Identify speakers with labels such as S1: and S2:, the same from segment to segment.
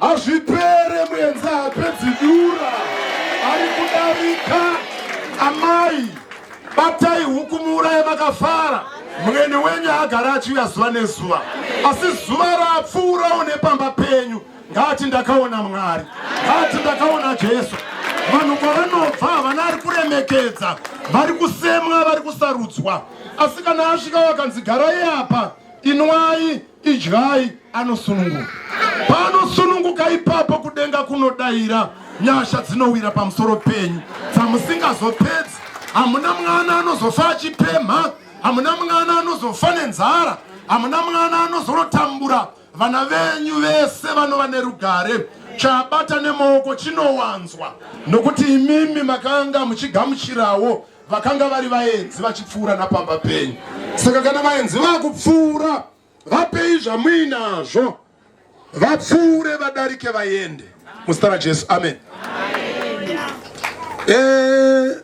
S1: Hazvipere muenza hapedzi dura ari kudarika amai batai huku muuraye makafara mwene wenyu agara achiuya zuva nezuva asi zuva rapfuurawo nepamba penyu ngati ndakaona mwari ngati ndakaona jesu vanhu kwavanobva havana ari kuremekedza vari kusemwa vari kusarudzwa asi kana asvika wakanzi garai apa inwai Idyai anosununguka. Paanosununguka ipapo kudenga kunodaira nyasha dzinowira pamusoro penyu dzamusingazopedzi. Hamuna mwana anozofa achipemha, hamuna mwana anozofa nenzara, hamuna mwana anozorotambura. Vana venyu vese vanova nerugare chabata nemaoko chinowanzwa nokuti imimi makanga muchigamuchirawo vakanga vari vaenzi vachipfuura napamba penyu saka kana vaenzi vakupfuura vapei zvamuinazvo vapfuure vadarike vaende muzita rajesu amen, amen. E,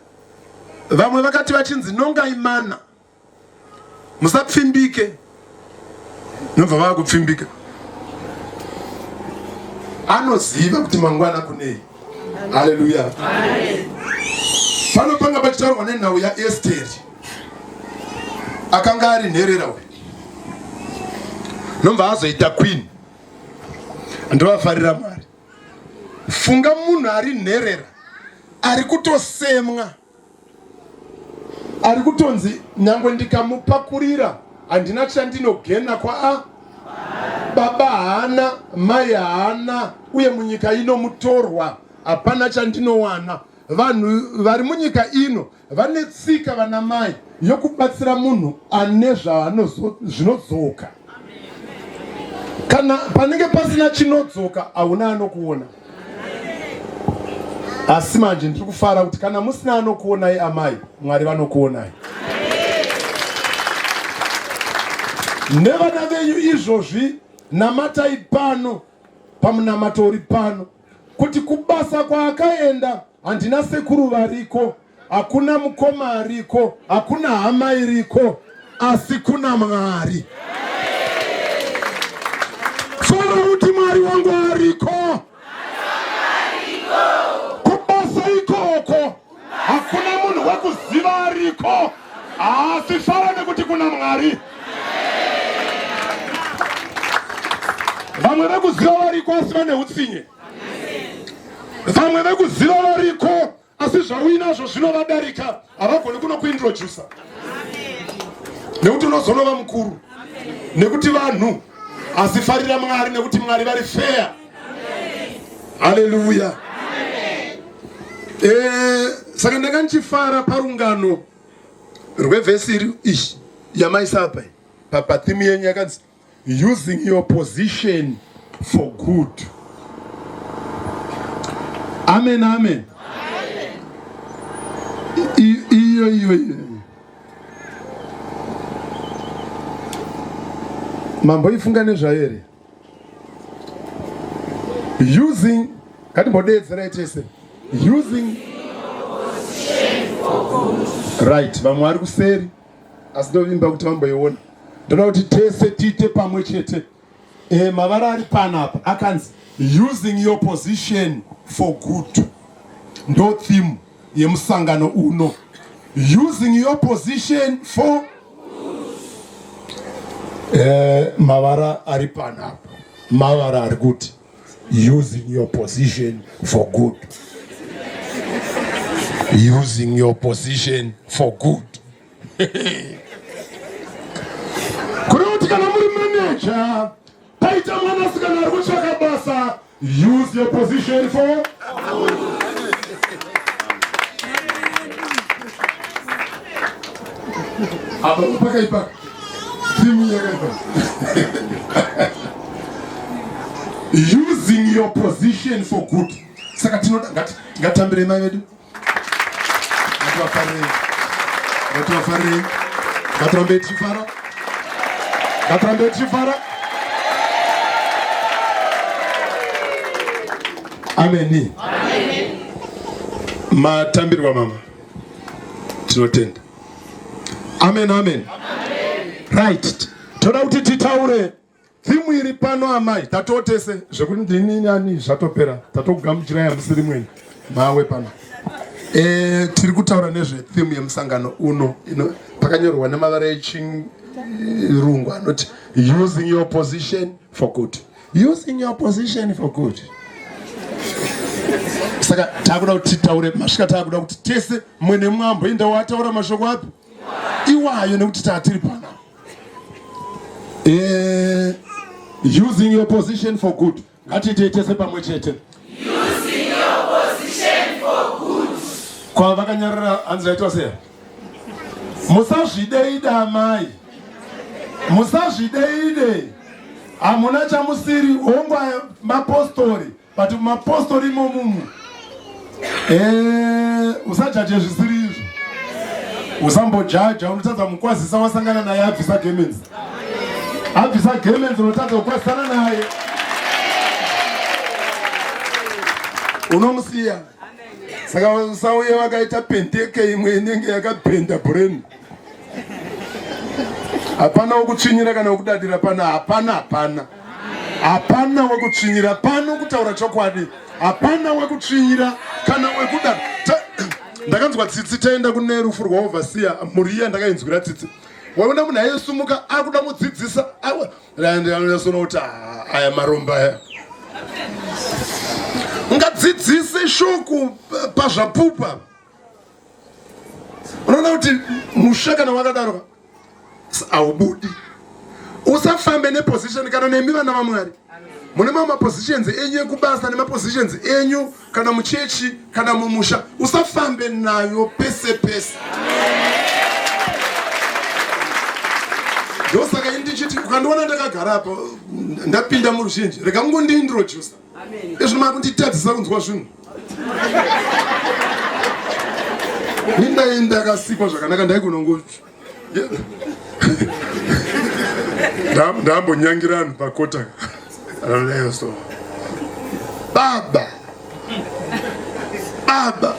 S1: vamwe vakati vachinzi nongai mana musapfimbike nobva vava kupfimbika anoziva kuti mangwana kunei haleluya pano panga pachitaurwa nenhau yaesteri akanga ari nherera uyu nobva azoita queen ndovafarira mwari funga munhu ari nherera ari kutosemwa ari kutonzi nyangwe ndikamupakurira handina chandinogena kwaa baba haana mai haana uye munyika ino mutorwa hapana chandinowana vanhu vari munyika ino vane tsika vana mai yokubatsira munhu ane zvaanozvinodzoka kana panenge pasina chinodzoka hauna anokuona asi manje ndiri kufara kuti kana musina anokuonai amai mwari vanokuonai nevana venyu izvozvi namatai pano pamunamato uri pano kuti kubasa kwaakaenda handina sekuru variko Hakuna mukoma ariko, hakuna hama iriko, asi kuna Mwari. Solo kuti Mwari wangu ariko. Kubasa ikoko. Hakuna munhu wekuziva ariko. Asi fara nekuti kuna Mwari. Vamwe vekuziva variko asi vane utsinye. Vamwe vekuziva variko asi zvauinazvo zvinovadarika havagoni kunokuintrodusa nekuti unozonova mukuru nekuti vanhu asi farira mwari nekuti mwari vari feya haleluya eh, saka ndanga ndichifara parungano rwevhesi iri ishi yamaisapa papathimi yenyu yakanzi using your position for good amen amen iyo iyo iyo mamboifunga nezvayo here using ngatimbodeedzerai tese using right vamwe vari kuseri asi ndovimba kuti vamboiona ndoda kuti tese tiite pamwe chete e, mavara ari panapa akanzi using your position for good ndo theme yemusangano uno using your position for e, mavara ari panapa mavara ari kuti using your position for good using your position for good kuri kuti kana muri manager paita mwana sikana ari kutsvaka basa use your position for apa pakaipa using your position for good saka tinoda ngatambirei mai vedu ngativafarirei ngativafarirei ngatirambei tichifara ngatirambei tichifara ameni matambirwa mama tinotenda Amen, amen. Right. Toda kuti titaure thimu iri pano amai tatotese zvekuti ndini nani zvatopera tatokugamuchirai hamusiri mwenyu mawe pano e, tiri kutaura nezvethimu yemusangano uno ino pakanyorwa nemavara echirungu anoti using your position for good using your position for good saka takuda kuti titaure masvika takuda kuti tese mumwe nemumwe amboenda wataura mashoko api iwayo nekuti tatiri pana eh, using your position for good ngatiitei tese pamwe chete
S2: kwavakanyarara
S1: hanzi vaitwa seya musazvideida amai musazvideide hamuna chamusiri hongu mapostori but mapostori imomumu eh, usajaje zvisiri izvo usambojaja unotadza mukwazisa wasangana naye abvisa gemens abvisa gemens unotadza kukwazisana naye unomusiya saka vasauye vakaita pendeke imwe inenge yakabhenda brain hapana wekutsvinyira kana wekudadira pano hapana hapana hapana wekutsvinyira pano kutaura chokwadi hapana wekutsvinyira kana wekuda ndakanzwa tsitsi taenda kune rufu rwaovhasiya mhuri iya ndakainzwira tsitsi waona munhu aisumuka akuda mudzidzisa kuti aya maromba aya ngadzidzise shoko pazvapupa unoona kuti musha kana wakadaro haubudi usafambe neposition kana nemi vana vamwari mune mamwe mapositions enyu ekubasa nemapositions enyu kana muchechi kana mumusha usafambe nayo pese pese ndosaka ini ndichiti ukandiona ndakagara apa ndapinda muruzhinji rega kungondiintrodusa ezvino maa kunditadzisa kunzwa zvinhu ini ndai ndakasikwa zvakanaka ndaigonongo ndambonyangira anhu pakota so baba baba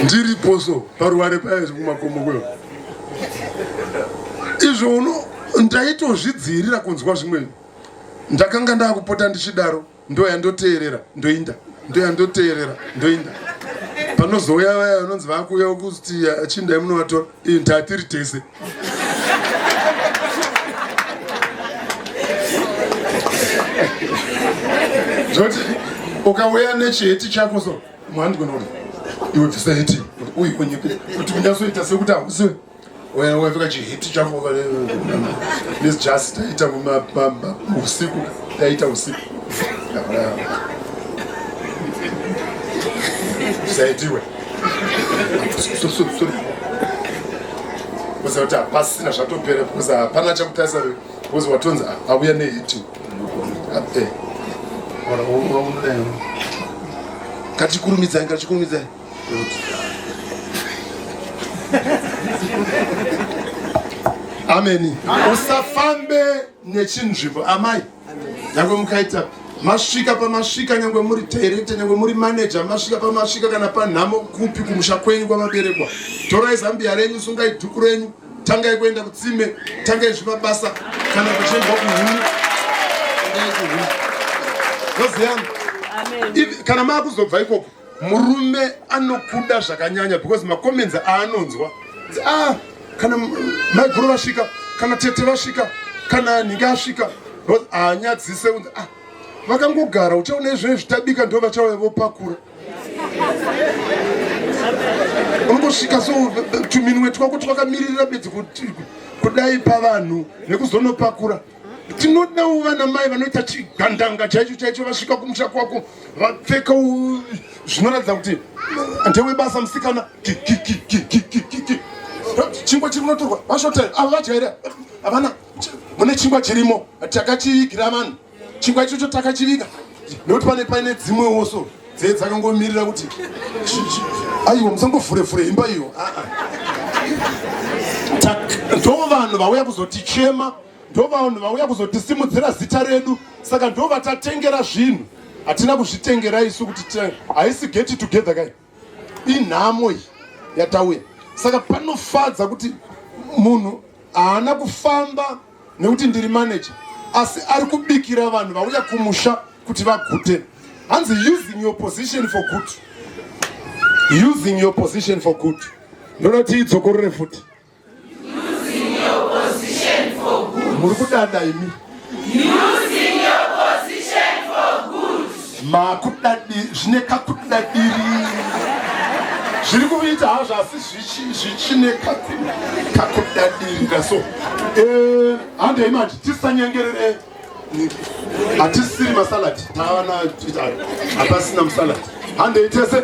S1: ndiripo so paruware paya zvekumakomo kweyo izvo uno ndaitozvidziirira kunzwa zvimweni ndakanga ndakupota ndichidaro ndoya ndoteerera ndoinda ndoya ndoteerera ndoinda panozouya vaya vanonzi vakuuya kuti achindai munovatora ii ndatiri tese zvoti ukauya nechiheti chako so mwandigona kuti iwe bvisa heti uyu onyepe kuti unyasoita sekuti hausiwe Well, we've got you hit chako over there. This just taita kuma bamba usiku taita usiku. Saitiwe. So so so. Kusa kuti hapasina zvatopera because hapana chakutarisa because watonzi auya nehiti. Kati kurumidzai, kati kurumidzai. ameni usafambe nechinzvimbo amai nyangwe mukaita masvika pamasvika nyangwe muri director nyangwe muri manager masvika pamasvika kana panhamo kupi kumusha kwenyu kwamaberekwa torai zambiya renyu sungai dhuku renyu tangai kuenda kutsime tangai zvemabasa kana kuchiendwa kuhuni kana maakuzobva ikoko murume anokuda zvakanyanya because macomments aanonzwa ah, kana maiguru vasvika kana tete vasvika kana nhingi asvika haanyadzise unzi ah, vakangogara uchaona izvo zvitabika ndo vachauya vopakura unongosvika so tuminwe twako twakamiririra bedzi kudai pavanhu nekuzonopakura tinodawo vana mai vanoita chigandanga chaicho chaicho vasvika kumusha kwako vapfeka zvinoratidza kuti ndewebasa musikana chingwa chiri unotorwa vashotel ava vadya here havana mune chingwa chirimo takachivigira vanhu chingwa ichocho takachiviga nekuti pane paine dzimwewo so dzee dzakangomirira kuti aiwa musangofure fure imba iyo ah, ah. ndovanhu vauya kuzotichema ndovanhu vauya kuzotisimudzira zita redu saka ndovatatengera zvinhu hatina kuzvitengera isu kuti haisi geti together kai inhamo iyi yatauya saka panofadza kuti munhu haana kufamba nekuti ndiri manager asi ari kubikira vanhu vauya kumusha kuti vagute hanzi using your position for good using your position for good ndoda ti idzokorore futi
S2: muri kudada imi makudadi
S1: zvine kakudadiri zviri kuita hazvo asi zvichine kakudadirira so eh, handei manje tisanyengerere hatisiri masalad taana hapasina musalad handei tese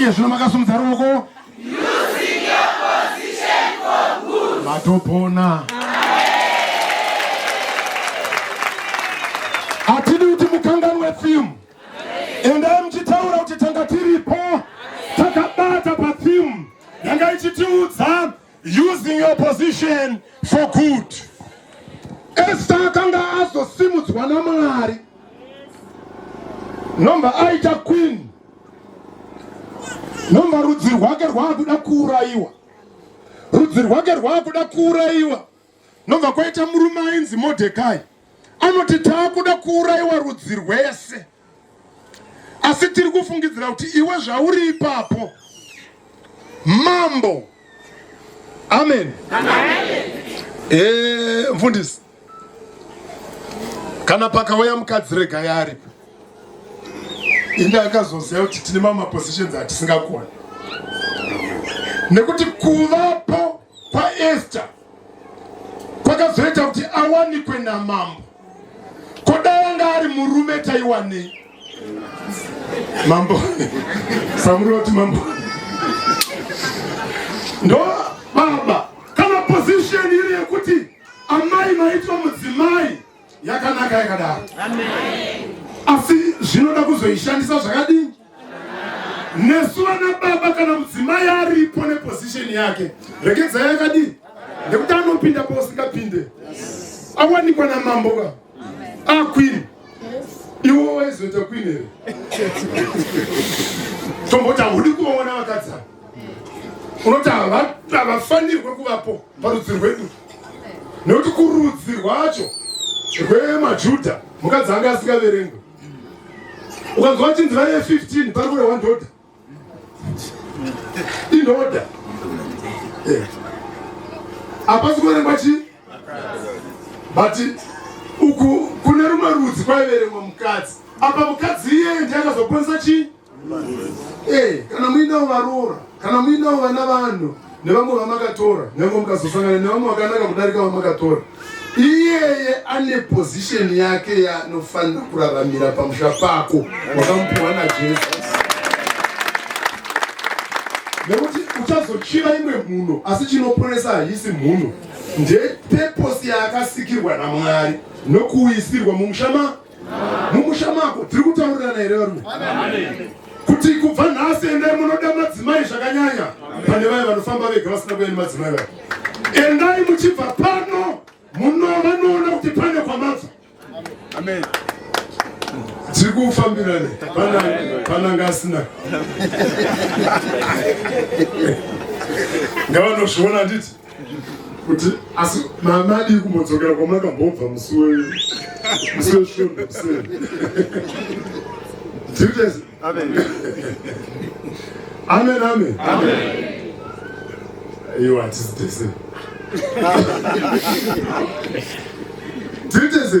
S2: iye zvino makasumudza
S1: ruoko
S2: matopona
S1: hatidi kuti mukanganwe fimu endai muchitaura kuti tanga tiripo takabata pafimu yanga ichitiudza using your position for good esta akanga azosimudzwa namwari nomba aita queen nomba rudzi rwake rwaakuda kuurayiwa rudzi rwake rwaakuda kuurayiwa Nobva kwaita murume ainzi Modhekai anoti taakuda kuurayiwa rudzi rwese, asi tiri kufungidzira kuti iwe zvauri ipapo mambo. Amen, amen. Eh, mfundisi kana pakauya mukadzi rega yaaripo inde akazoziva kuti tine mamapositions atisingakoni nekuti kuvapo kwaEsta kwakazoita kuti awanikwe namambo. Ko dai anga ari murume taiwanei? Mambo samuri vati mambo ndo baba kana position iri yekuti amai maitwa mudzimai yakanaka yakadaro asi zvinoda kuzoishandisa zvakadini nesu vana baba kana mudzimai aripo neposition yake regedzai yakadini nekuti anopinda pausingapinde awanikwa namambo ka aquin ah, iwo waizoita queen here tomboti haudi kuona vakadzana unoti havafanirwe kuvapo parudzi rwedu nekuti kurudzi rwacho rwemajudha mukadzi ange asingaverengwe ukanzwa chinzi vaive 15 pari kurehwa ndoda indoda eh. hapasi kuverengwa chii but uku kune rumwe rudzi kwaiverengwa mukadzi apa mukadzi iyeye ndiye akazokwanisa chii Hey, eh, kana muinawo varoora kana muinawo vana vanhu nevamwe vamakatora nyange mukazosangana nevamwe vakanaka kudarika vamakatora iyeye ane pozisheni yake yaanofanira kuraramira pamusha pako wakamupiwa najesu nekuti uchazochiva imwe mhuno asi chinoponesa haisi mhuno ndepeposi yaakasikirwa namwari nokuisirwa mumusha mumusha mako tiri kutaurirana here varume kuti kubva nhasi endai munoda madzimai zvakanyanya pane vaye vanofamba vega vasina kuya nemadzimai vaye endai muchibva pano muno vanoona kuti pane kwamabva tiri kufambirane pananga asina ngavanozviona nditi kuti asi mama adii kumbodzokera kwamakambobva musi wemusi wesvondo kuseri zvirikutezi amen amen aiwa hatisi tese zvirikutezi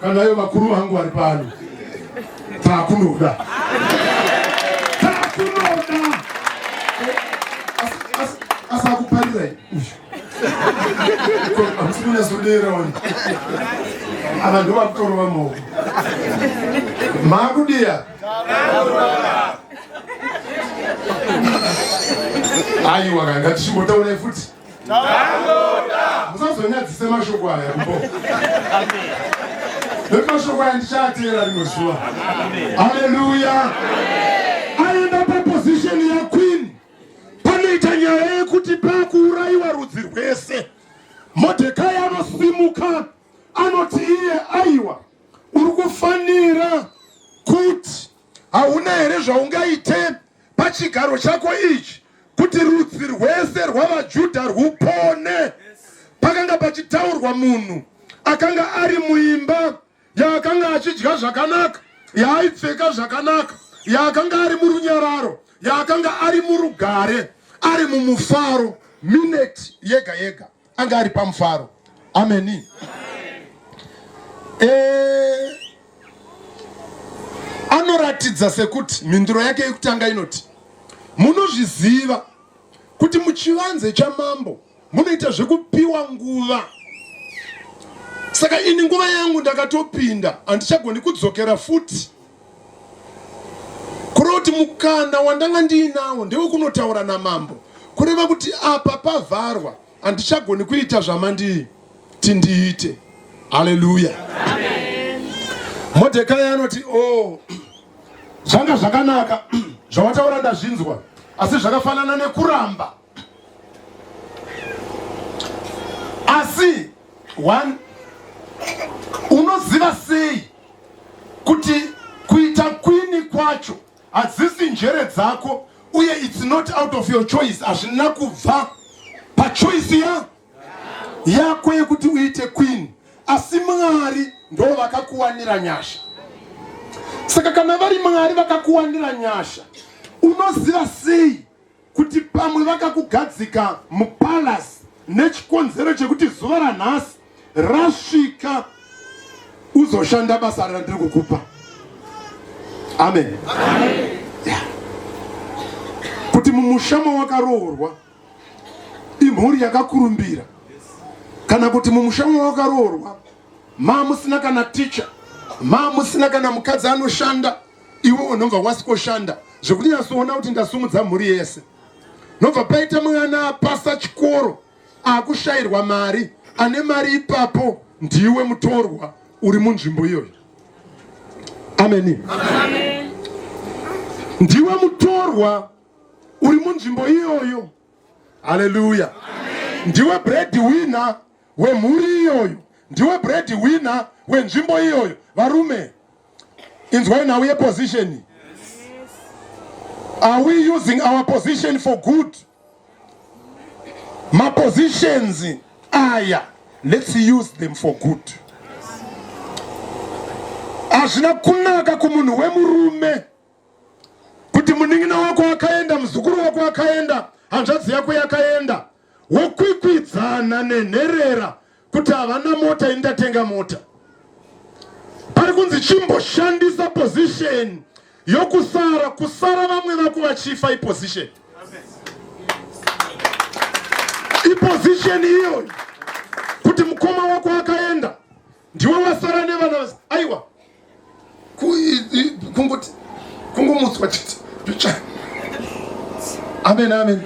S1: Kana ivo vakuru vangu vari pano, takunoda takunoda asakuparira uyu hamusi kunyasodera wani ava ndo vakutorova maoko makudiya aiwa kanga tichimbotaura futi Tangoda. Musazonyadzise mashoko aya kubo. Amen. Nekuti mashoko aya ndichaatera rimwe zuva. Amen. Hallelujah. Amen. Aenda pa position ya queen. Panoita nyaya yekuti pakuurayiwa rudzi rwese. Modhekai anosimuka anoti iye aiwa uri kufanira kuti Hauna here zvaungaite pachigaro chako ichi kuti rudzi rwese rwavaJudha rwupone? Pakanga pachitaurwa munhu akanga ari muimba yaakanga achidya zvakanaka, yaaipfeka zvakanaka, yaakanga ari murunyararo, yaakanga ari murugare, ari mumufaro mineti yega yega. anga ari pamufaro ameni eh, anoratidza sekuti mhinduro yake yekutanga inoti munozviziva kuti muchivanze chamambo munoita zvekupiwa nguva saka ini nguva yangu ndakatopinda handichagoni kudzokera futi kureva kuti mukana wandanga ndiinawo ndewekunotaura namambo kureva kuti apa pavharwa handichagoni kuita zvamanditi ndiite haleluya modhekai anoti o oh, zvanga zvakanaka zvawataura ndazvinzwa asi zvakafanana nekuramba asi one unoziva sei kuti kuita kwini kwacho hadzisi njere dzako uye it's not out of your choice hazvina kubva pachoisi ya yako yekuti uite kwini asi mwari ndo vakakuwanira nyasha saka kana vari mwari vakakuwanira nyasha unoziva sei kuti pamwe vakakugadzika mupalasi nechikonzero chekuti zuva ranhasi rasvika uzoshanda basa randiri kukupa amen, amen. Yeah. kuti mumusha mawakaroorwa imhuri yakakurumbira kana kuti mumusha mawakaroorwa maa musina kana ticha maa musina kana mukadzi anoshanda iwe unobva wasikoshanda zvekuti nyatsoona kuti ndasumudza mhuri yese nobva paita mwana apasa chikoro akushayirwa mari ane mari ipapo ndiwe mutorwa uri munzvimbo iyoyo ameni ndiwe mutorwa uri munzvimbo iyoyo haleluya ndiwe bread winner wemhuri iyoyo ndiwe bread winner wenzvimbo iyoyo varume inzwai nhau yeposition are we using our position for good mapositions aya let's use them for good hazvina kunaka kumunhu wemurume kuti munin'ina wako akaenda muzukuru wako akaenda hanzvadzi yako yakaenda wokwikwidzana nenherera kuti havana mota ini ndatenga mota pari kunzi chimboshandisa position yokusara kusara vamwe vako vachifa iposition iposition iyoyo kuti mukoma wako akaenda ndiwo vasara nevana vese aiwa kungoti kungomutswa chete picha amen amen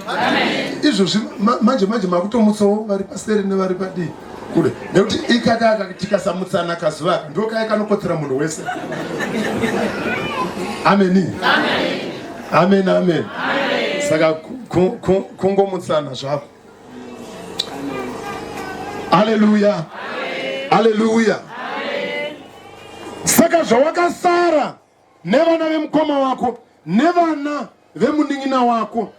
S1: izvozvi manje manje makutomutsawo vari paseri nevari padii kule nekuti ikakaka tikasamutsana kazuva ndo kaya kanokotsera munhu wese ameni amen amen saka kungomutsana zvako Haleluya, haleluya. Saka zvawakasara nevana vemukoma wako nevana vemunin'ina wako,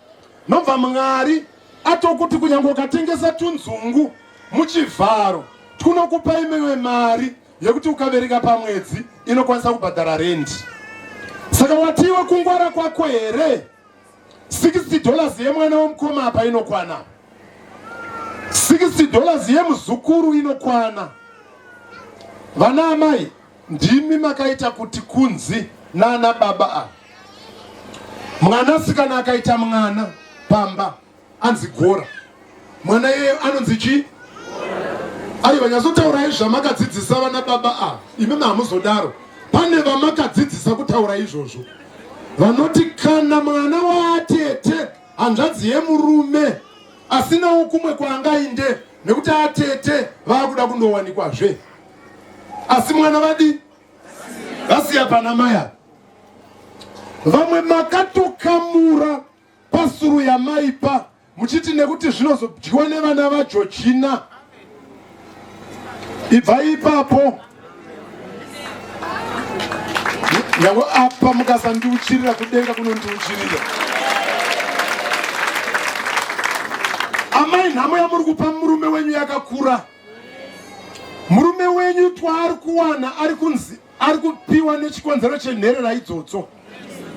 S1: nobva Mwari atokuti kunyange ukatengesa tunzungu muchivharo twunokupa imwewe mari yekuti ukabereka pamwedzi inokwanisa kubhadhara rendi. Saka watiwe kungwara kwako here 60 dollars yemwana womukoma apa inokwana 60 dollars yemuzukuru inokwana vana amai ndimi makaita kuti kunzi nana baba a mwanasikana akaita mwana pamba anzi gora mwana yeye anonzi chii aiwa nyatsotaura izvo amakadzidzisa vana baba ava imimi hamuzodaro pane vamakadzidzisa kutaura izvozvo vanoti kana mwana waatete hanzvadzi yemurume asinawo kumwe kwaangainde nekuti atete vaakuda kundowanikwazve asi mwana vadi vasiya pana maya vamwe makatokamura Pasuru yamaipa muchiti nekuti zvinozodyiwa nevana vaJojina. Ibvai ipapo. Nyangwe apa mukasandiuchirira kudenga kunondiuchirira. Amai nhamo yamuri kupa murume wenyu yakakura. Murume wenyu twaari kuwana ari kunzi ari kupiwa nechikonzero chenherera idzodzo.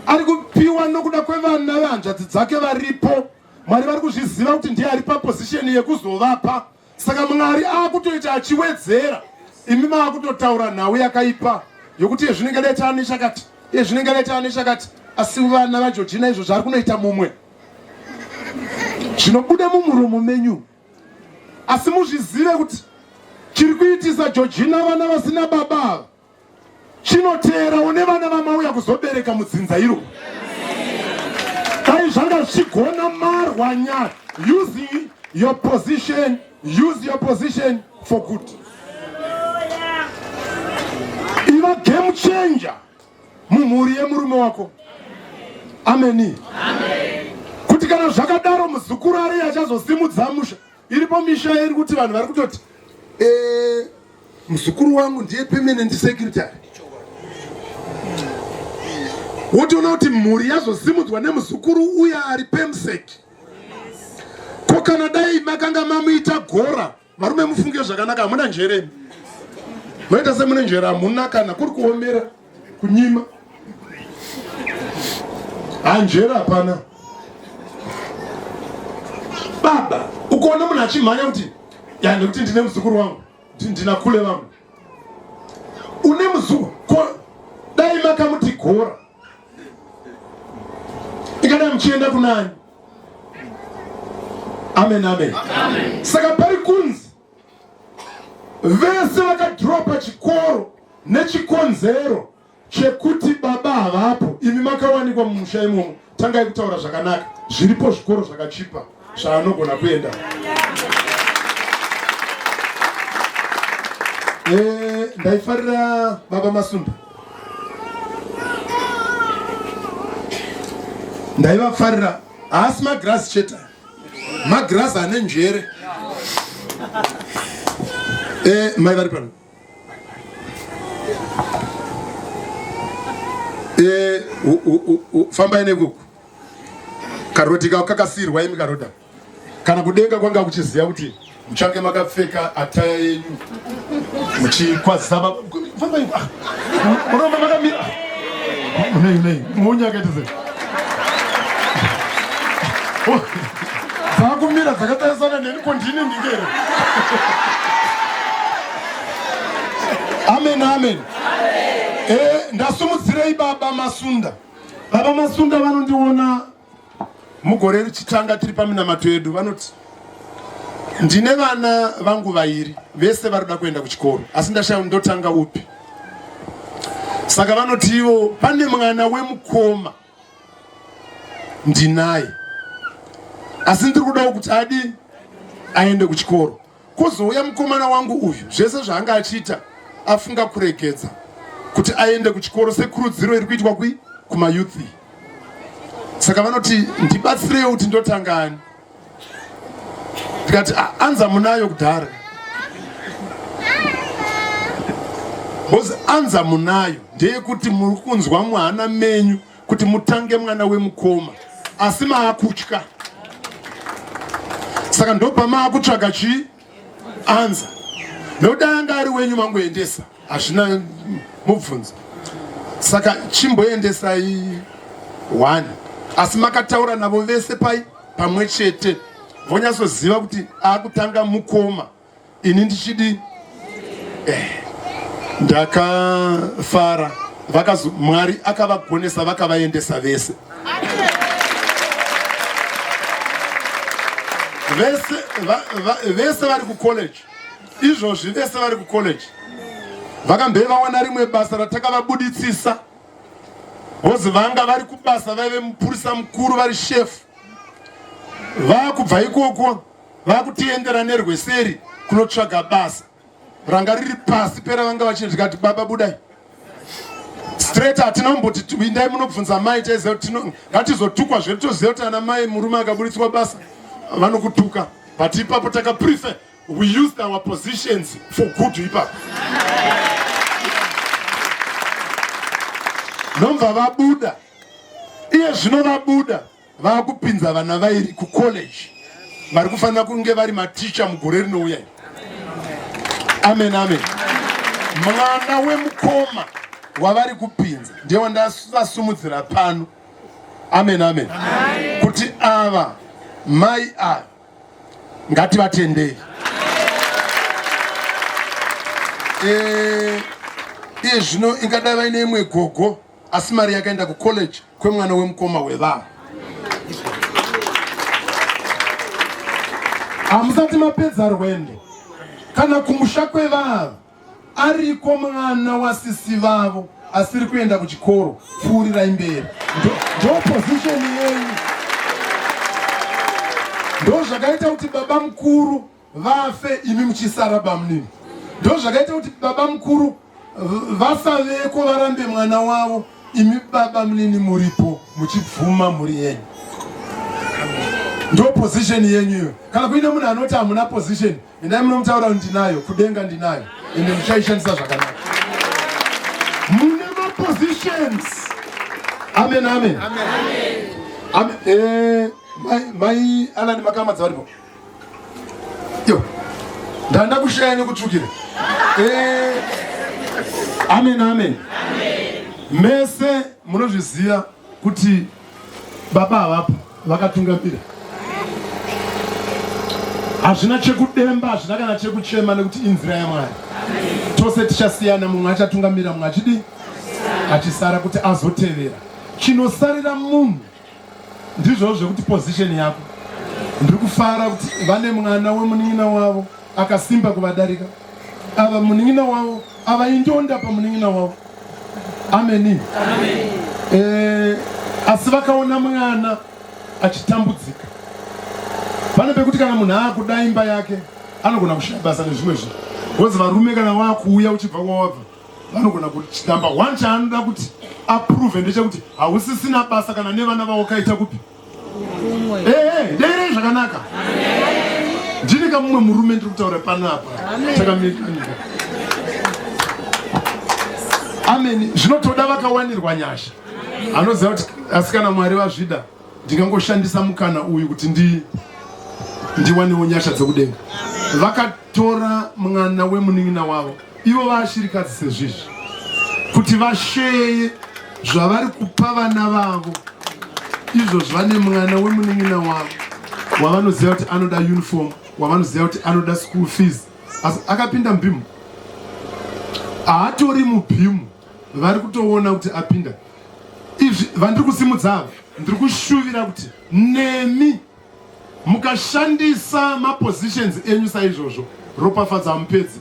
S1: ari kupiwa nokuda kwevana vehanzvadzi dzake varipo mwari vari kuzviziva kuti ndiye ari papozisheni yekuzovapa saka mwari akutoita achiwedzera imi maakutotaura nhau yakaipa yokuti yezvinenge leta ani chakati yezvinenge leta ani chakati asi vana vajojina izvo zvaari kunoita mumwe zvinobuda mumuromo menyu asi muzvizive kuti chiri kuitisa jojina vana vasina baba ava chinoteera une vana vamauya kuzobereka mudzinza iro dai zvanga zvichigona marwa nyaya using your position use your position for good iva game changer mumhuri yemurume wako ameni kuti kana zvakadaro muzukuru ariye achazosimudza musha Iripo misha iri kuti vanhu vari kutoti eh, muzukuru wangu ndiye permanent secretary wotoona kuti mhuri yazosimudzwa nemuzukuru uye ari pemsec ko kana dai makanga mamuita gora varume mufunge zvakanaka hamuna njere moita semune njere hamuna kana kuri kuomera kunyima hanjera hapana baba ukaona munhu achimhanya kuti ya nekuti ndine muzukuru wangu ndina kule vamwe une muzukuru dai makamuti gora ikadai muchienda kunani amen amen, amen. saka pari kunzi Vese vakadhiropa chikoro nechikonzero chekuti baba havapo. Imi makawanikwa mumusha imomo, tangai kutaura zvakanaka. Zviripo zvikoro zvakachipa zvaanogona kuenda. Eh, ndaifarira baba Masunda ndaivafarira haasi magirasi chete magirazi ane njere eh, mai vari pano eh, fambai nekuku karodhi kako kakasiyirwa imi karodha kana kudenga kwanga kuchiziva kuti Muchange makapfeka ataya yenyu muchikwazisa baba fambai ah, munoramba makamira nei nei munyakaita sei oh, dzakumira dzakatarisana neni ko ndini ndingere amen amen eh, ndasumudzirei baba masunda baba masunda vanondiona Mugore richitanga tiri paminamato yedu vanoti ndine vana vangu vairi vese vari kuda kuenda kuchikoro asi ndashaya ndotanga upi saka vanoti ivo pane mwana wemukoma ndinaye asi ndiri kudawo kuti adi aende kuchikoro Kozouya mukomana wangu uyu, zvese zvaanga achiita afunga kuregedza kuti aende kuchikoro sekurudziro iri kuitwa kui kumayouth iyi. Saka vanoti ndibatsirewo kuti ndotanga ani? Ndikati "Ah, anza munayo kudhara. Bozi anza munayo ndeyekuti muri kunzwa muhana menyu kuti mutange mwana wemukoma asi maakutya saka ndobva maakutsvaga chii anza nekuti anga ari wenyu mangoendesa hazvina mubvunzo saka chimboendesai one asi makataura navo vese pai pamwe chete vonyatsoziva kuti akutanga mukoma ini ndichidi eh, ndakafara vakazo mwari akavagonesa vakavaendesa vese vese va, va, vese vari kucollege izvozvi vese vari kucollege vakambe vawana rimwe basa ratakavabuditsisa bhozi vanga vari kubasa vaive mupurisa mukuru vari shefu vakubva ikoko vakutiendera nerweseri kunotsvaga basa ranga riri pasi pera vanga vachiti tikati baba budai straight hatina kumboti vindai munobvunza mai taiziva kuti ngatizotukwa zvedu toziva kuti ana mai murume akaburitswa basa vanokutuka but ipapo takaprefer we used our positions for good ipapo ndomva vabuda iye zvino vabuda vakupinza vana vairi kucollege vari kufanira kunge vari maticha mugore rinouya amen amen mwana wemukoma wavari kupinza ndiye wandavasumudzira pano amen amen kuti ava mai ava ngativatendei eh, iye zvino ingadai vaine imwe gogo asi mari yakaenda kucollege kwemwana wemukoma wevanhu hamusati mapedza rwendo kana kumusha kwevanhu ariko mwana wasisi vavo asiri kuenda kuchikoro pfuurirai mberi ndopositioni yenyu ndo zvakaita kuti baba mukuru vafe imi muchisara bamunini ndozvakaita kuti baba mukuru vasaveko varambe mwana wavo imi baba munini muripo muchibvuma mhuri yenyu ndo position yenyu iyo kana kuine munhu anoti hamuna position endai munomutaura kuti ndinayo kudenga ndinayo ende muchaishandisa zvakanaka mune mapositions amen amen, amen. amen. amen. Eh, mai alani makamadza varipo Yo. Ndanda kushaya nekutsvukira. Eh. Amen amen. Mese munozviziva kuti baba havapo vakatungamira. Hazvina chekudemba, hazvina kana chekuchema nekuti inzira yaMwari. Tose tichasiyana, mumwe achatungamira, mumwe achidi achisara kuti azotevera. Chinosarira munhu Ndizvo zvekuti position yako. Ndiri kufara kuti vane mwana wemunin'ina wavo akasimba kuvadarika. Ava munin'ina wavo ava indonda pamunin'ina wavo. Ameni. Amen. Eh, asi vakaona mwana achitambudzika. Pane pekuti kana munhu akuda imba yake anogona kushaya basa nezvimwe zvinhu. Wozi varume kana wakuuya uchibva kwawabva vanogona kuti number one chaanoda kuti aprove ndechekuti hausisina basa kana nevana vavo kaita kupi ehe deirei zvakanaka ndini kamumwe murume ndiri kutaura panapa chakamirikanyika ameni zvinotoda vakawanirwa nyasha anoziva kuti asikana mwari vazvida ndingangoshandisa mukana uyu kuti ndi ndiwanewo nyasha dzekudenga vakatora mwana wemunin'ina wavo ivo vaashirikadzi sezvizvi kuti vasheye zvavari kupa vana vavo izvo zvane mwana wemunin'ina wavo wavanoziva kuti anoda uniform wavanoziva kuti anoda school fees asi akapinda mubhimu haatori mubhimu vari kutoona kuti apinda izvi vandiri kusimudza ava ndiri kushuvira kuti nemi mukashandisa mapositions enyu saizvozvo ropafadza mupedzi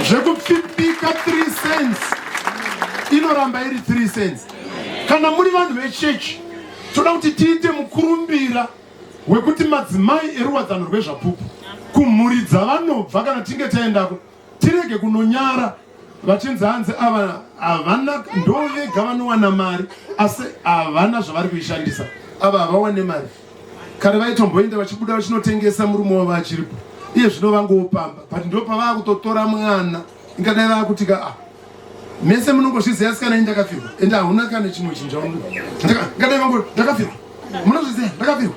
S1: zvekupfipika 3 cents inoramba iri 3 cents kana muri vanhu vechechi toda kuti tiite mukurumbira wekuti madzimai eruwadzano rwezvapupu kumhuri dzavanobva kana tinge taendako tirege kunonyara vachinzi hanzi ava havana ndovega vanowana mari asi havana zvavari kuishandisa ava havawane mari kare vaitomboenda vachibuda vachinotengesa murume wavo achiripo iye zvino vangopamba but ndopavaa kutotora mwana ingadai vaakutika ah, mese munongozviziva asikana ini ndakafirwa ende hauna kana chimwe chinhu chaungadai vangu ndakafirwa munozviziva ndakafirwa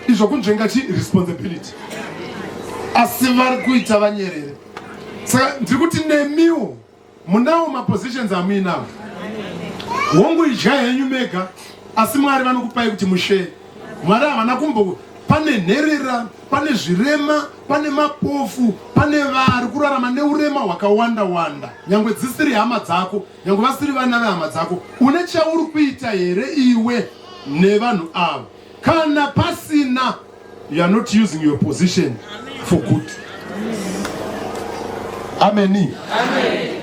S1: izvo kunzvenga chi responsibility asi vari kuita vanyerere saka ndiri kuti nemiwo munawo mapositions amuinawo hongu idya henyu mega asi mwari vanokupai kuti mushe Mwari havana kumbo pane nherera, pane zvirema, pane mapofu, pane vari kurarama neurema hwakawanda wanda. Nyangwe dzisiri hama dzako, nyangwe vasiri vana vehama dzako, une chauri kuita here iwe nevanhu ava? Kana pasina, you are not using your position for good. Ameni. Amen.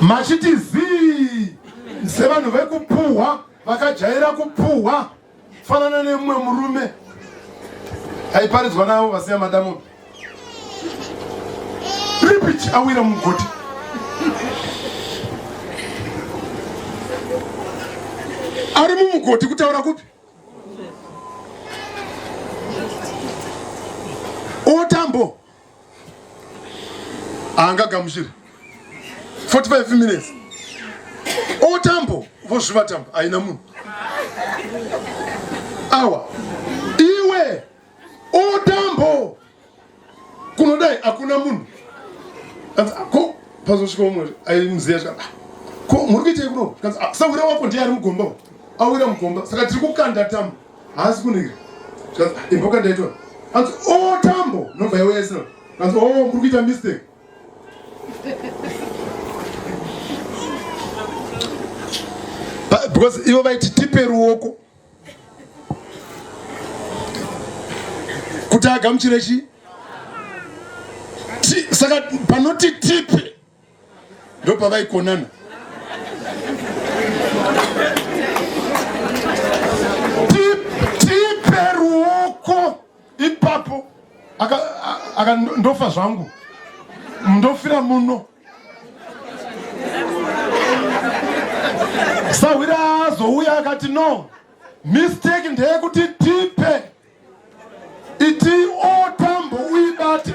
S2: Machiti
S1: zii sevanhu vekupuhwa vakajaira kupuhwa fanana nemumwe murume aiparidzwa navo vasiya madamobi ripiti awira mugoti ari mumugoti kutaura kupi otambo haangagamuchiri 45 minutes otambo vozviva tambo haina munhu awa iwe otambo kunodai hakuna munhu ko pazosvika umwe aimuziva zva ko muri kuitei kuno ah, sawira wako ndiye ari mugomba awira mugomba saka tiri kukanda tambo haasi kundigira imboka ndaitora anzi o oh, tambo nobva yauya isina anzi o oh, kuri kuita mistake because ivo vaiti tipe ruoko kuti agamuchire chii saka panoti tipe ndopavaikonana tipe ruoko ipapo aka ndofa zvangu ndofira muno sahwira azouya akati no mistake ndeyekuti tipe iti otambo uibate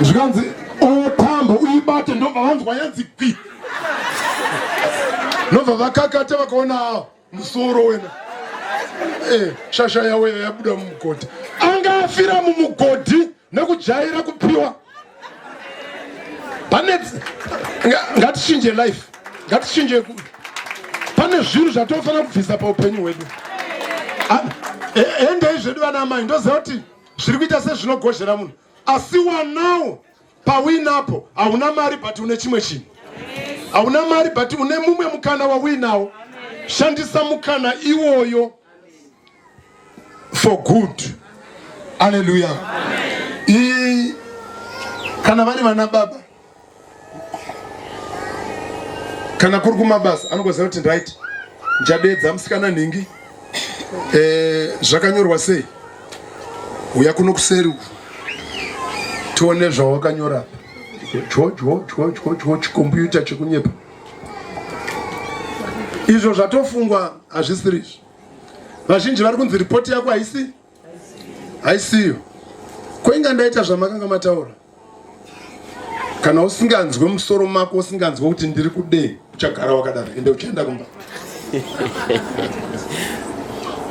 S1: zvikanzi otambo uibate ndobva vanzwa yanzi kwi ndobva vakakata vakaona musoro wena eh, shasha yaweya yabuda mumugodhi anga afira mumugodhi nekujaira kupiwa pane ngatichinje life ngatichinje pane zvinhu zvatinofanira kubvisa paupenyu hwedu endei zvedu vana amai ndoziva kuti zviri kuita sezvinogozhera munhu asi wanawo pauinapo hauna mari but une chimwe chinhu hauna mari but une mumwe mukana wauinawo shandisa mukana iwoyo for good aleluya kana vari vana baba kana kuri kumabasa anogoziva kuti right ndichadeedza musikana nhingi eh, zvakanyorwa sei uya kuno kuseri uku tione zvawakanyora chwo chwo chwo chwo chwo chikombiyuta chekunyepa izvo zvatofungwa hazvisiri izvo vazhinji vari kunzi ripoti yako haisi haisiyo kwainga ndaita zvamakanga mataura kana usinganzwe musoro mako usinganzwe kuti ndiri kudei uchagara wakadaro ende uchaenda kumba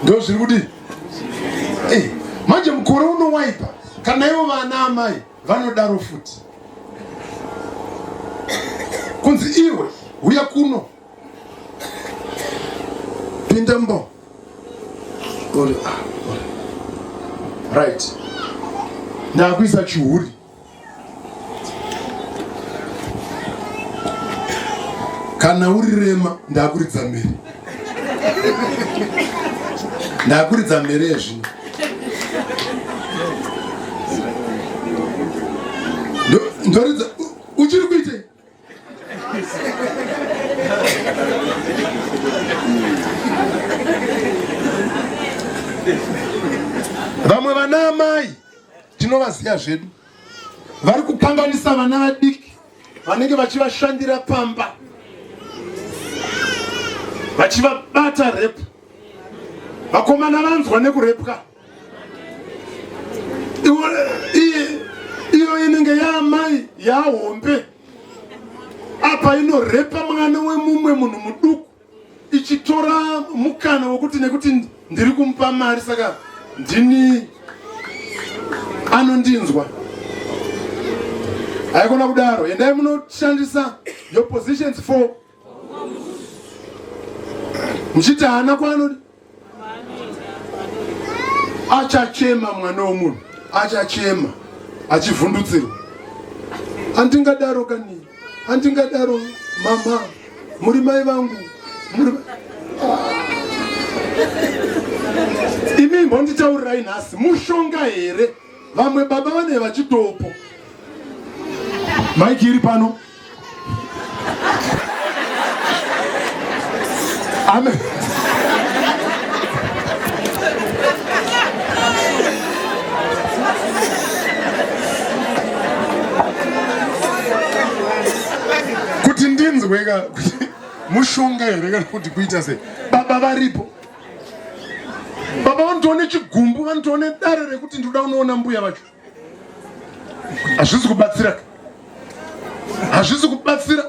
S1: ndo zviri kudii eh, manje mukore unowaipa kana ivo vana amai vanodaro futi kunzi iwe huya kuno pinda mbo uri ah, uri right ndakuisa chihuri kana uri rema ndakuridza mberi ndakuridza mhere yezvino ndoridza uchiri kuite vamwe vana amai tinovaziva zvedu vari kukanganisa vana vadiki vanenge vachivashandira pamba vachivabata repu vakomana vanzwa nekurepwa iyo inenge yaamai yaahombe apa inorepa mwana wemumwe munhu muduku ichitora mukana wekuti nekuti ndiri kumupa mari saka ndini anondinzwa haikona kudaro endai munoshandisa your positions for muchiti haana kwaanodi achachema mwana womunhu achachema achivhundutsirwa handingadaro kani handingadaro mama muri mai vangu imi mbonditaurirai nhasi mushonga here vamwe baba vane vachitopo maiki iri pano amen kuti ndinzweka mushonga here kana kuti kuita sei baba varipo baba vanotoone chigumbu vanotoone dare rekuti ndinoda unoona mbuya vacho hazvisi kubatsira hazvisi kubatsira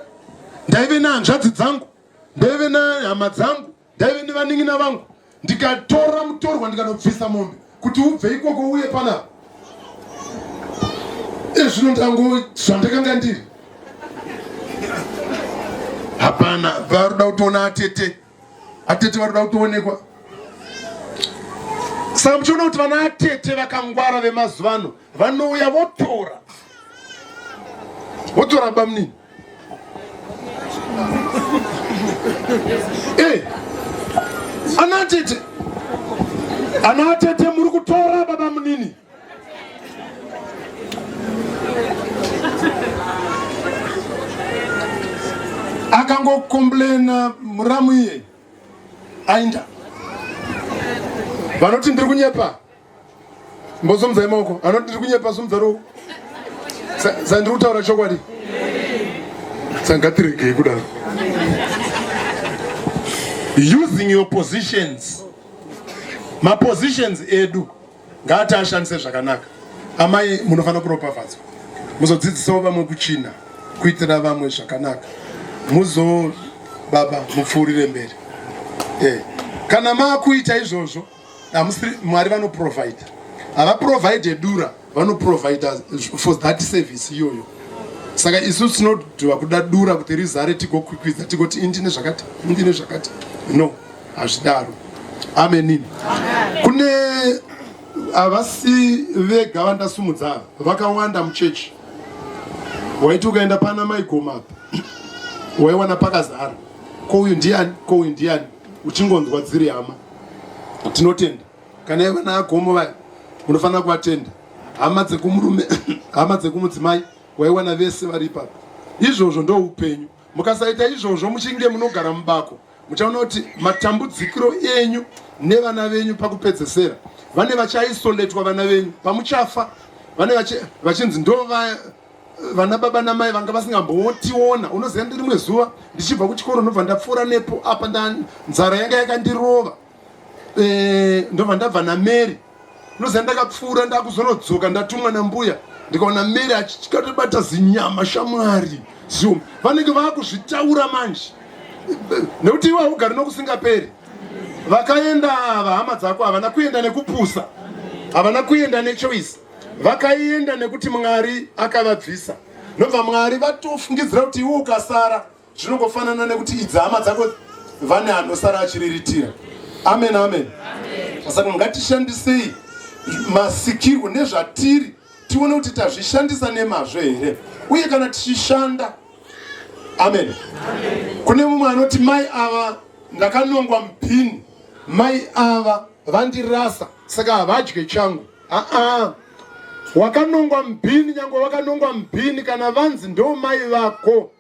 S1: ndaive nehanzvadzi dzangu ndaive nehama dzangu ndaive nevanin'ina vangu ndikatora mutorwa ndikanobvisa mombe kuti ubve ikoko uye panapa ezvino ndango zvandakanga ndiri hapana varuda kutoona atete Atete vanoda kutoonekwa. Saka muchiona kuti vana atete vakangwara vemazuva ano vanouya votora votora bamnini e eh, ana atete ana atete muri kutora baba munini akangokomblena muramu iye ainda vanoti ndiri kunyepa mbosomzai maoko anoti ndiri kunyepa somudza roko sandiri kutaura chokwadi sangatiregei kudaro using your positions mapositions edu ngaati ashandise zvakanaka amai munofanira kuropafadzwa muzodzidzisawo vamwe kuchina kuitira vamwe zvakanaka muzo baba mupfuurire mberi eh. kana maakuita izvozvo mwari vanoprovide havaprovide dura vanoprovide for that service iyoyo saka isu tinodhiwa kuda dura kuti rizare tigokwikwidza tigoti indine zvakati indine zvakati no hazvidaro amenin kune havasi vega vandasumudza vakawanda muchechi waiti ukaenda pana maigoma waiwana pakazara ko uyu ndiani ko uyu ndiani uchingonzwa dziri hama tinotenda kana iva naagomo vaya munofanira kuvatenda hama dzekumurume hama dzekumudzimai waiwana vese vari ipapo izvozvo ndoupenyu mukasaita izvozvo muchinge munogara mubako muchaona kuti matambudzikiro enyu nevana venyu pakupedzesera vane vachaisoletwa vana venyu pamuchafa vane vachinzi ndo vana baba namai vanga vasingambotiona unoziva ndi rimwe zuva ndichibva kuchikoro ndobva ndapfuura nepo apa nzara yanga yakandirova eh, ndobva ndabva namary Ndoziva ndakapfuura ndakuzonodzoka ndatumwa nambuya ndikaona Mary achikatobata zinyama shamwari zium vanenge vakuzvitaura manje nekuti iwe haugari nokusingaperi vakaenda vahama dzako havana kuenda nekupusa havana kuenda nechoice vakaenda nekuti mwari akavabvisa nobva mwari vatofungidzira kuti iwe ukasara Zvinongofanana nekuti idzi hama dzako vane anosara achiriritira. Amen, amen. Saka ngatishandisei masikirwo nezvatiri tione kuti tazvishandisa nemazvo here uye kana tichishanda amen kune mumwe anoti mai ava ndakanongwa mupini mai ava vandirasa saka havadye changu aa wakanongwa mupini nyange wakanongwa mupini kana vanzi ndo mai vako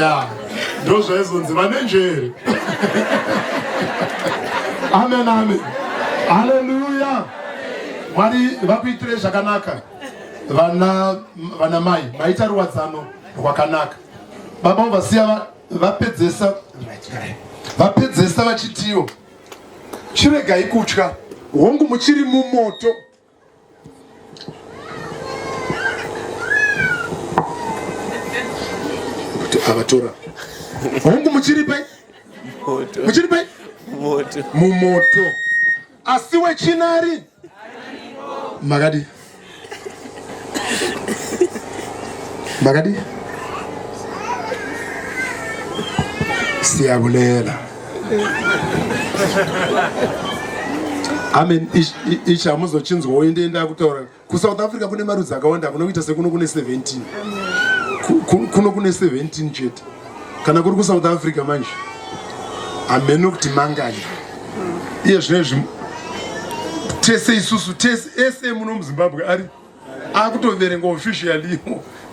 S1: ya ndo zvaizonzi vane njere amen amen haleluya mwari vakuitire zvakanaka vana vana mai maita ruwadzano rwakanaka baba vasiya vapedzesa vapedzesa vachitiwo chiregai kutya hongu muchiri mumoto kuti avatora hongu muchiri pai muchiri pai mumoto asi wechinari makadi makadi siyabulela amen ichi hamuzochinzwa woende enda kutaura kusouth africa kune marudzi akawanda kuno kuita sekuno kune 17 kuno kune 17 chete kana kuri kusouth africa manje hameno kuti mangani iye zvine zvi tese isusu tese ese muno muzimbabwe ari akutoverenga officially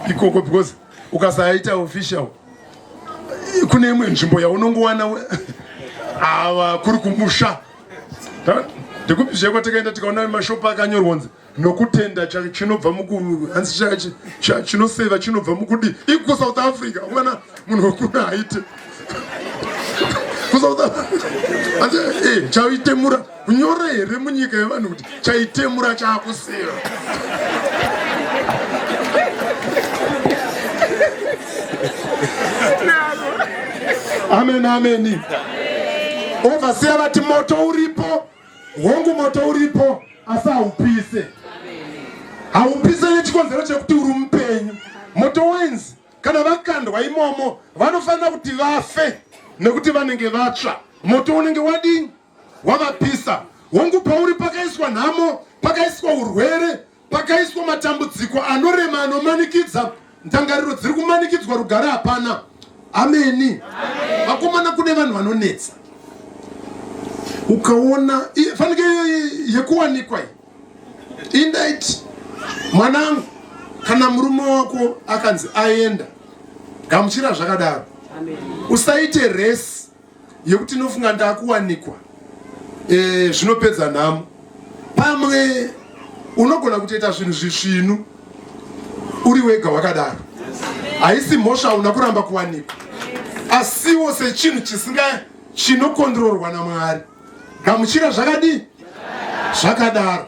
S1: ikoko because ukasaita official kune imwe nzvimbo yaunongowana ava kuri kumusha ndikupi zveko takaenda tikaona mashopu akanyorwa kunzi nokutenda chinobva mukuhanzi chinoseva chinobva mukudi ikusouth africa umana munhu wekuna haiti kusouth africa asi eh, chaitemura Kunyore here munyika yevanhu kuti chaitemura chakusiva. Amen amen. Overseer vati moto uripo. Hongu moto uripo asi haupise. Haupise nechikonzero chekuti uri mupenyu. Moto wenzi kana vakandwa imomo vanofanira kuti vafe nekuti vanenge vatsva. Moto unenge wadini? wavapisa hongu pauri pakaiswa nhamo pakaiswa urwere pakaiswa matambudziko anorema anomanikidza ndangariro dziri kumanikidzwa rugare hapana ameni vakomana kune vanhu vanonetsa ukaona fanike yekuwanikwa iyi indaiti mwanangu kana murume wako akanzi aenda gamuchira zvakadaro usaite resi yekuti inofunga ndakuwanikwa e, zvinopedza nhamo pamwe unogona kutoita zvinhu zvisvinu uri wega wakadaro haisi mhosva una kuramba kuwanikwa asiwo sechinhu chisinga chinokondororwa namwari gamuchira zvakadii zvakadaro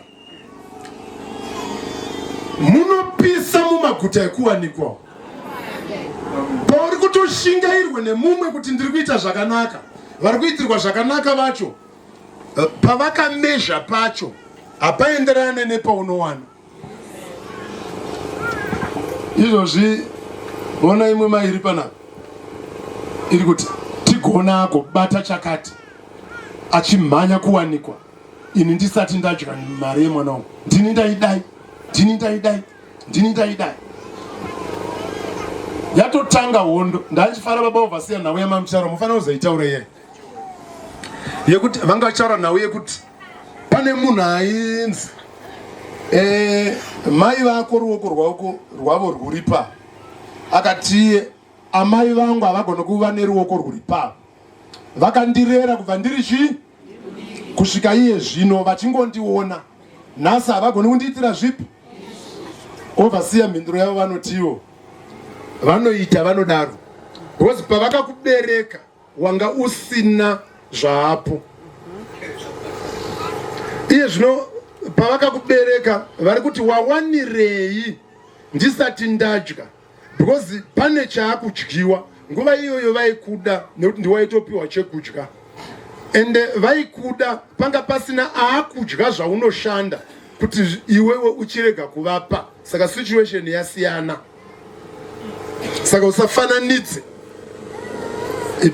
S1: munopisa mumaguta ekuwanikwa pauri kutoshingairwa nemumwe kuti ndiri kuita zvakanaka vari kuitirwa zvakanaka vacho eh, pavakamezha pacho hapaenderane nepaunowana izvozvi vona imwe mai iri panapa iri kuti tigonako bata chakati achimhanya kuwanikwa ini ndisati ndadya mari yemwana wangu ndini ndaidai ndini ndaidai ndini ndaidai yatotanga hondo ndachifara baba ovasiya nhau yamamucharo mufanira kuzoitaura iye yekuti vanga vachaura nhau yekuti pane munhu ainzi eh, mai vako ruoko rwako rwavo rwuri pa akatiye amai vangu havagona kuva neruoko rwuri pa vakandirera kubva ndiri chii kusvika iye zvino vachingondiona nhasi havagoni kundiitira zvipi ovasiya mhinduro yavo vanotiwo vanoita vanodaro because pavakakubereka wanga usina zvaapo iye zvino pavakakubereka vari kuti wawanirei ndisati ndadya because pane chaakudyiwa nguva iyoyo vaikuda nekuti ndiwaitopiwa chekudya ende eh, vaikuda panga pasina aakudya zvaunoshanda kuti iwewe uchirega kuvapa saka situation yasiyana saka usafananidze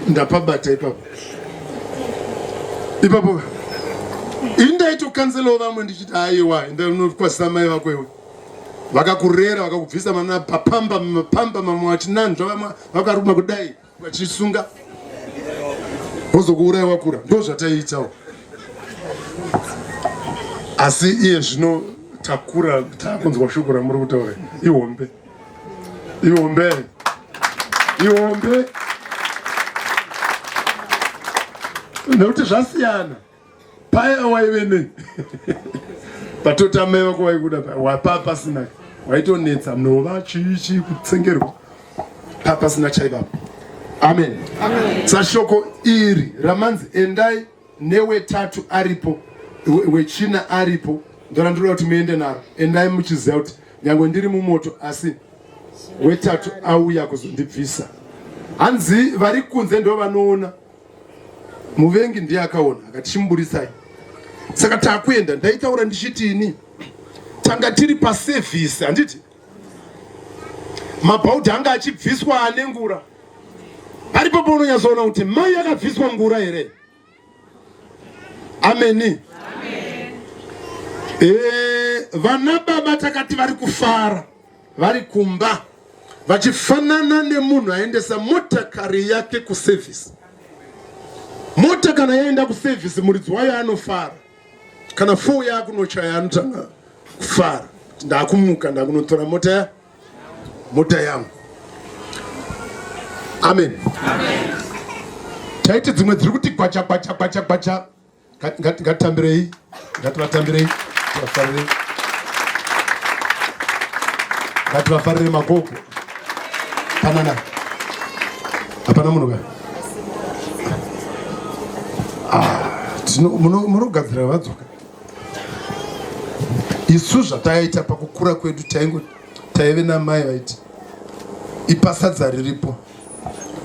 S1: ndapabata ipapo ipapo indaitokanzelawo vamwe ndichiti aiwa enda unokwasisa mai vako iwe vakakurera vakakubvisa mana papamba mapamba mamwe vachinanzva vamwe vakaruma kudai vachisunga vozokuuraya wakura ndo zvataiitawo asi iye zvino takura takunzwa shoko ramuri kutaura ihombe ihombe ihombe nekuti zvasiyana paya waive ne patotameva kwaikuda wapa pasina waitonetsa mnova chii chii kutsengerwa pa pasina chaivapo amen sashoko iri ramanzi endai newetatu aripo wechina aripo ndorandiroda kuti muende naro endai muchiziva kuti nyange ndiri mumoto asi wetatu auya kuzondibvisa hanzi vari kunze ndovanoona muvengi ndiye akaona akati chimuburitsai saka takuenda ndaitaura ndichiti ini tanga tiri pasevhisi handiti mabhaudhi anga achibviswa ane ngura aripo paunonyatsoona kuti mai akabviswa ngura here ameni eh, vana baba takati vari kufara vari kumba vachifanana nemunhu aendesa motakari yake kuservice. Mota kana yaenda kuservice muridzi wayo anofara, kana foo yakunochaya anotanga kufara, ndakumuka ndakunotora mota ya mota yangu. Amen, amen. Taiti dzimwe dziri kuti gwacha gwacha gwacha gwacha Ngatitambirei, ngativatambirei, tivafarire, ngativafarire magogo. Panana, hapana munhu ka munogadzira vadzoka isu zvataita pakukura kwedu taingo taive namai vaiti ipasadza riripo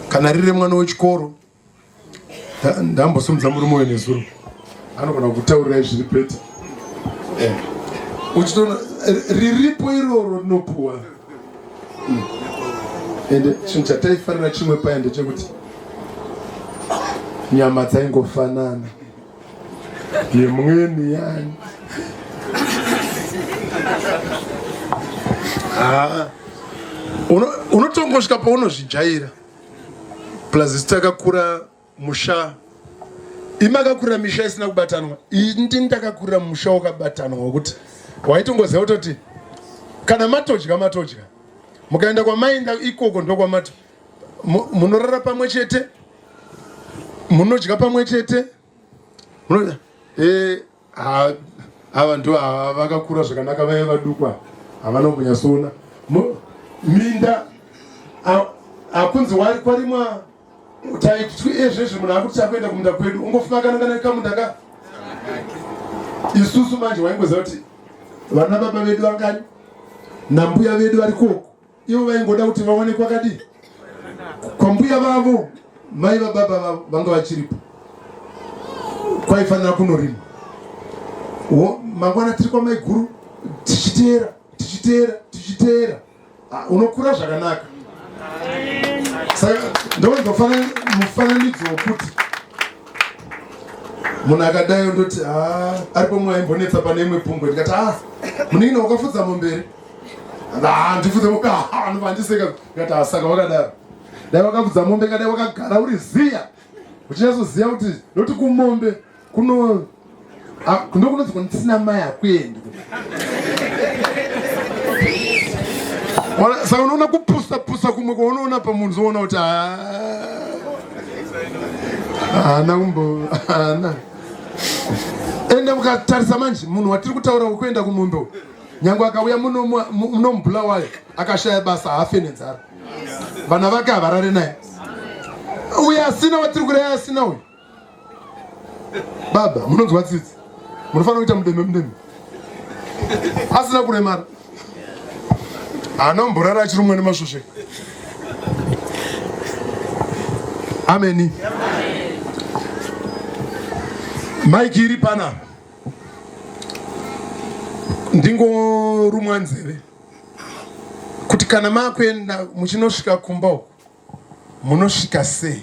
S1: kana riri mwana wechikoro ndambosumudza murume uyo nezuro anogona kutaurirai zviri pete eh. uchitoona eh, riripo iroro rinopuwa hmm. ende chinhu chataifanira chimwe paya ndechekuti nyama dzaingofanana yemweni yani ah. unotongosvika paunozvijaira plus isu takakura musha imi akakura misha isina kubatanwa indini ndakakurira musha wakabatanwa wekuti waitongoziva kutoti kana matodya matodya mukaenda kwamainda ikoko ndokwamati munorara pamwe chete munodya pamwe chete munoda eh ha ava ndo vakakura zvakanaka vaye vadukwa havana kunyasona minda akunzi wari kwarimwa taitwi ezvezvi munhu akuti chakuenda kumunda kwedu ungofumakana kana kamunda ka isusu manje waingoziva kuti vana baba vedu vangani nambuya vedu vari koko ivo vaingoda kuti vawane kwakadii kwambuya vavo mai vababa vavo vanga vachiripo kwaifanira kunorima mangwana tiri kwamaiguru tichiteera tichiteera tichiteera ah, unokura zvakanaka saka ndoonzofana mufananidzo wokuti munhu akadai ondoti ah, aripo mwaaimbonetsa pane imwe pungwe ndikati a ah, muningina wakafudza momberi handifudze mombe hanu vandiseka ngati asaka wakadaro dai wakafudza mombe kadai wakagara uri ziya uchinyatsoziva kuti noti kumombe kuno ndokunonzi kuni tisina mai hakuendi saka unoona kupusa pusa kumwe kwaunoona pamunhu zoona kuti haana kumbo haana ende mukatarisa manje munhu watiri kutaura wekuenda kumombe nyange akauya muno muno mubulawayo akashaya basa haafe nenzara vana vake havarare naye uye asina watiri kuraya asina uyu baba munonzwa tsitsi munofanira kuita mudeme mudeme asina kuremara anomborara achiri umwe nemasvosve ameni maiki iri panapa ndingorumwa nzeve kuti kana makuenda muchinosvika kumba uku munosvika sei